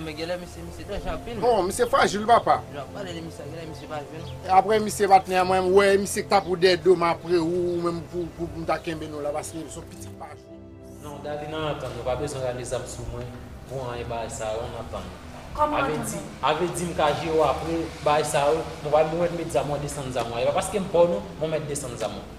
Men genlè misye misye danje anpil. Bon misye frajil wi papa. Lè wap pale de misye a genlè misye pa jwe non. Apre misye patnè mwen m wè misye k ta pou dè dom apre ou ou menm pou m ta kenbe nou la paske nou son pitit pa jwe. Non Dali nan antann nou pa bezwen rale zam sou mwen pou anyen bagay sa yo an nan antann nou. Kòman antann nou? Ave di m ka jere w apre bagay sa yo mwen pa menm wè m met zam ou an desann zam ou an e pa paske m pa w non mwen mèt desann zam ou an.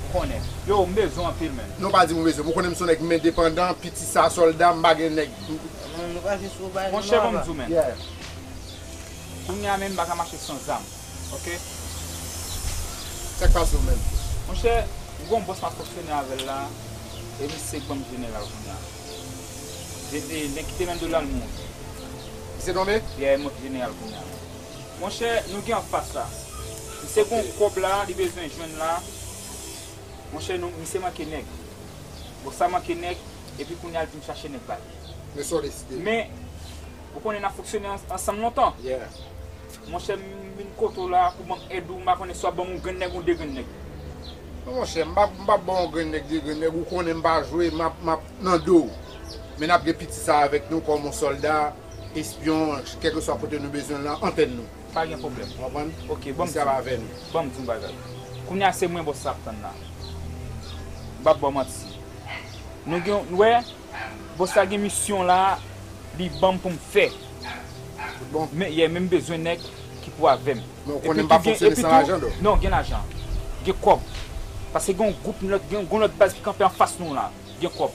Ou konnen. Yo m bezwen anpil menn. Non pa di m ou bezwen m ou konnen m son nèg m endepandan piti sa sòlda m pa gen nèg m. Nou pa jis ou bay nou Monchè ban m di w menn. Yeah. Kounya menn m pa ka mache san zam ok. Sa k pase w menn. Monchè m gon bòs m ap fonksyone avè l la e misye k ban m jeneral kounya. Depi li kite Lando la l mouri. Misye tonbe? Yeah e monte jeneral kounya menn. Monchè nou gen anfas la. Misye gon kob la li bezwen jwenn la monchè nou misye manke nèg bon sa manke nèg epi kounya li vin chache nèg bal men ou konnen nap fonksyone ansanm lontan monchè m vin kote w la pou banm èd ou m pa konnen si wap banm yon grenn nèg yon de grenn nèg. Non monchè m pap baw yon grenn nèg de grenn nèg ou konnen m pa jwe map nan do w men nap gen piti sa avèk nou kòm yon sòlda. Espyon kèlkeswa kote nou bezwen l lan antèn nou. Pa gen pwoblèm. Ou konprann? Ok, banm Misye ap avè nou. di. Banm di yon bagay. Kounye a se mwen bòs la ap tann la. M pap ba w manti. Nou gen yon, wè, bòs la gen misyon la li banm pou m fè. Tout bon? Men, yeah, men m bezwen nèg ki pou avè m. Men ou konnen m pa fonksyone san lajan dò. Non, gen lajan. Gen kòb. Paske gen yon gwoup, gen yon lòt baz ki kanpe anfas nou la. Gen kòb.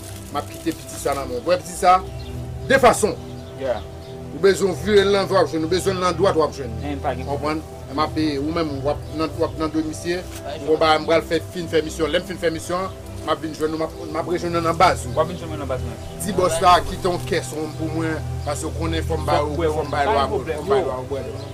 Map kite piti sa nan menw. Wè piti sa? De fason. Yeah. Ou bezwen vire l nan dwat wap jwenn. Ou bezwen l nan dwat wap jwenn. Hein pa gen pwoblèm. Konprann? Eman pe ou menm wap nan wap nan dwe misye. M gon bagay m pral fè fin fè misyon. Lèm fin fè misyon an, map vin jwenn ou map map rejwenn ou nan baz ou. Wap vin jwenn mwen nan baz mwen. Di bòs la kite yon kès wonm pou mwen paske ou konnen fòm ba yo fòm bay lwa fòm bay lwa ou bwè dlo.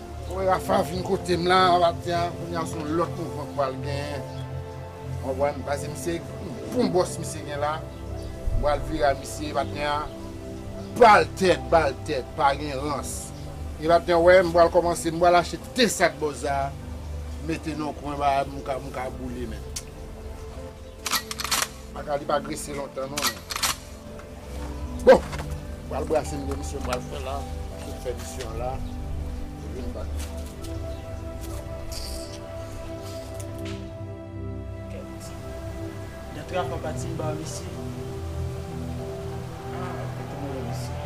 Mwen Rapha vin kotem la matin an kounya son lot mouvman k pral gen ou konprann pase misye yon bon boss misye gen la m pral vire a misye matin an bal tèt bal tèt pa gen rans e matin an wè m pral komanse m pral achte de sak boss a mete nan kwen ba m ka boule menm. Baka li pa grese lontan non. Bon, pral brase m gen misyon m pral fè la. Tout fè misyon la. Vin bak. Nan trap a pati m ba misye. Ah, mwen te mwen misye.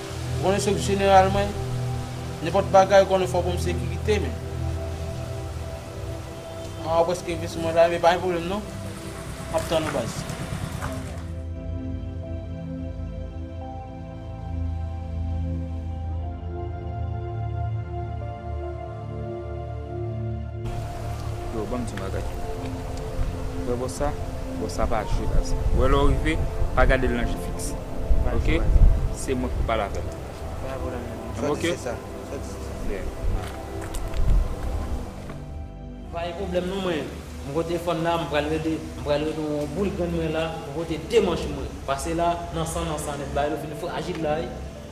Ou konnen se jeneral mwen, nenpòt bagay ou konnen fò banm sekirite men. An ou preske rive sou mwen la men pa gen pwoblèm non. Map tann ou baz. Yo banm ti bagay. Ou wè bòs sa? Bòs sa pa jwe baz. Ou wè lè w rive, pa gade l nan je fiks. Ok? Se mwen k pou pale avè l. M ok? Yeah. Pa gen pwoblèm non mwen. M pote fòn la, m pral rele, m pral rele w yon boul grenn mwen la, m pote 2 manch mwen. Pase la, nan san nan sa nèt bagay yo vin frajil la wi.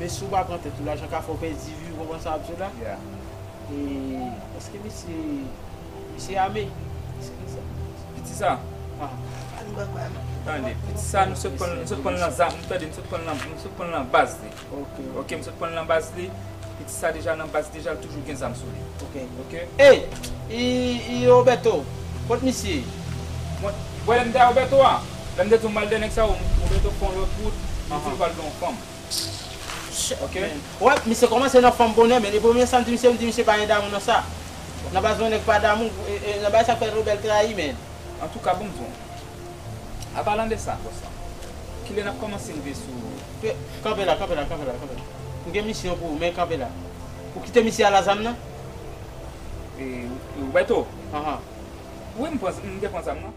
Men si w pa pran tèt ou lajan ka fè w pèdi vi w konprann sa map di w la e eske misye misye ame eske li sa piti sa tande piti sa nou sot pran nou sot pran l nan zam tande nou sot pran l nan nou sot pran l nan baz li ok nou sot pran l nan baz li piti sa deja nan baz deja l toujou gen zam sou li ok eyy robeto kot misye mwen lè m te a robeto a lè m te di w m pral de nèg sa yo robeto pran yon lòt wout li di l pral de yon fanm. Shit man. Wè, misye kòmanse nan fanm bonè men e premye sam di misye mdi misye pa gen damou nan sa. Nan baz mwen nèg pa damou e nan bagay sa fè Rebel trayi men. Antouka bon bon. A palan de sa boss lan. Kilè nap kòmanse rive sou. Kanpe la kanpe la kanpe la kanpe la. M gen misyon pou ou men kanpe la. Ou kite misye a la zam nan? E Roberto? Ahan. Wi m pran m te pran zam nan.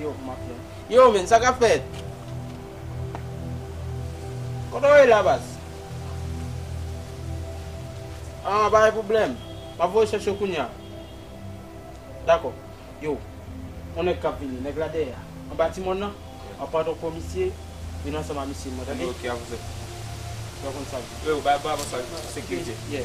Yo kman ap fè. Yo men sa kap fèt. Kote w ye la baz. An pa gen pwoblèm. Map voye chèche w kounya. Dakò. Yo. On nèg kap vini. Nèg la dèyè a. Anba ti mòn nan. Map pran ton kò misye. Vin ansanm a misye mwen tande. Ok avance. Yo konn sa yo. Freo bay bravo sa sekirite. Yeah.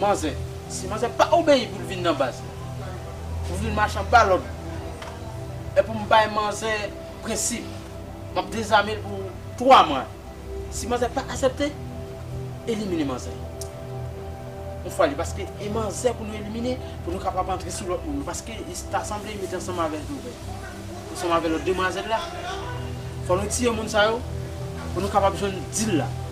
Manzè. Si manzè pa obeyi pou l vin nan baz la. Pou l vin machan ba lòd. Epi m bay manzè prensip. M ap dezame l pou 3 mwa. Si manzè pa asepte, elimine manzè. Yon fwa li paske e manzè pou nou elimine pou nou kapab antre sou lòt moun. Paske li ta sanble li mete ansanm avè l tou vre. Ansanm avè lòt demwazèl la. Fò nou tiye moun sa yo pou nou kapab jwenn dil la.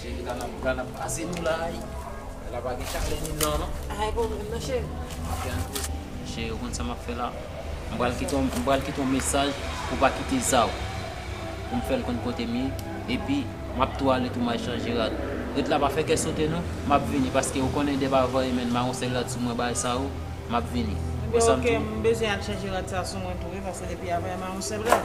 Cheri la nan bra nap pase nou la ui la pa gen chalè ni nan non. Ay pou mwen non cheri. Map tann ou. Cheri ou konn sa map fè la. M pral kite yon m pral kite yon mesaj pou pa kite zaw pou m fèl konn kotem ye epi map tou ale tou may chanje rad ret la pa fè kè sote non map vini paske ou konnen dep avanyè menn maron sèl rad sou mwen bay sa ou map vini. Ebyen ok m bezwen al chanje rad sa sou mwen tou wi paske depi avanyè maron sèl rad.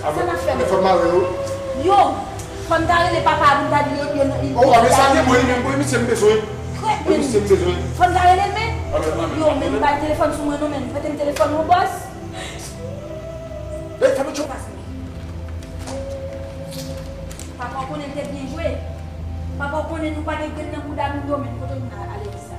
Sa nap fè menm. Yo Fòn ta rele papa a poun ta dil yo nan yo nan Etazini Krèt menn Fòn ta relel menn Yo menn bay telefòn sou mwen non menn Pretem telefòn ou bòs Papa w konnen l te byen jwe Papa w konnen nou pa gen grenn nan bouda nou yo menn Kote nou nan Alewis la.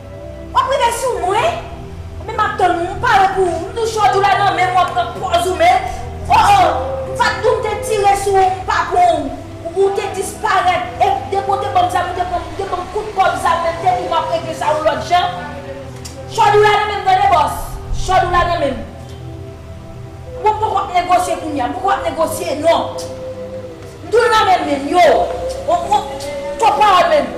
Wap rive sou mwen Ebyen map tann ou m pare pou ou m tou chòt ou la nan menm wap pran pòz ou men oh oh m pat di w m te tire sou ou m pa pran ou ou te disparèt e depi w te banm zam ou te pran ou te banm kout kòb zam menm depi map regle sa yon lòt jan chòd ou la nan menm tande bòs chòd ou la nan menm bon m poko ap negosye kounya m poko ap negosye non m tou l nan menm menm yo oh oh kòb pawòl menm.